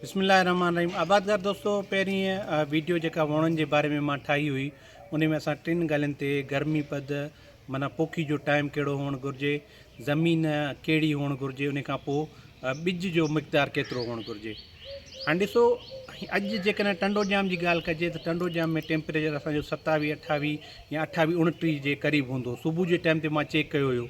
بسم الله الرحمن الرحيم آبادگار دوستو پهرين ويڊيو جيڪا وڻن جي باري ۾ مان ٺاهي هئي ان ۾ اسان ٽن ڳالهين تي گرمي پد مانا پوکي جو ٽائم ڪهڙو هئڻ گهرجي زمين ڪهڙي هئڻ گهرجي ان کان پوء ٻج جو مقدار ڪيترو هئڻ گهرجي ها ڏسو اڄ جيڪڏهن ٽنڊو جام جي ڳالهه ڪجي ته ٽنڊو جام ۾ ٽيمپريچر اسانجو ستاويهه اٺاويهه يا اٺاويهه اڻٽيهه جي قريب هوندو صبح جي ٽائم تي مان چيڪ ڪيو هيو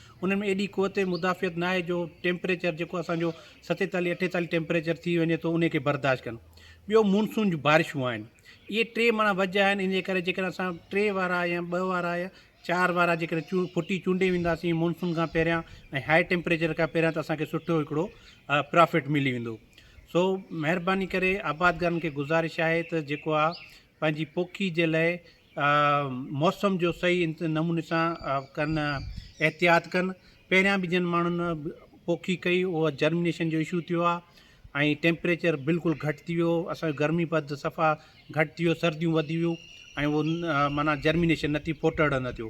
انهن ۾ ايڏي قوت مدافعت ناهي جو ٽيمپريچر جيڪو اسان جو ستيتاليهه اٺيتاليهه ٽيمپريچر ٿي وڃي ٿو انهي کي برداشت ڪن. ٻيو مونسون جون بارشون آهن. اهي ٽي ماڻا وجهه آهن ان جي ڪري جيڪڏهن اسان ٽي وارا يا ٻه وارا يا چار وارا جيڪڏهن چون ڦٽي چونڊي وينداسين مونسون کان پهريان ۽ هاء ٽيمپريچر کان پهريان ته اسان کي سٺو هڪڙو پرافٽ ملي ويندو. سو مهرباني ڪري آبادگارن کي گذارش آهي ته جيڪو آ پنهنجي پوکي جي لاء موسم جو صحيح نموني سان ڪن احتياط ڪن پهريان به جن ماڻهن پوکي ڪئي اهو جرمنيشن جو اشو ٿيو آهي ۽ ٽيمپريچر بلڪل گهٽ ٿي ويو اسانجو گرمي پد صفا گهٽ ٿي ويو سرديون وڌي ويون ۽ معنيٰ جرمنيشن نه ٿي ڦوٽڙ نه ٿيو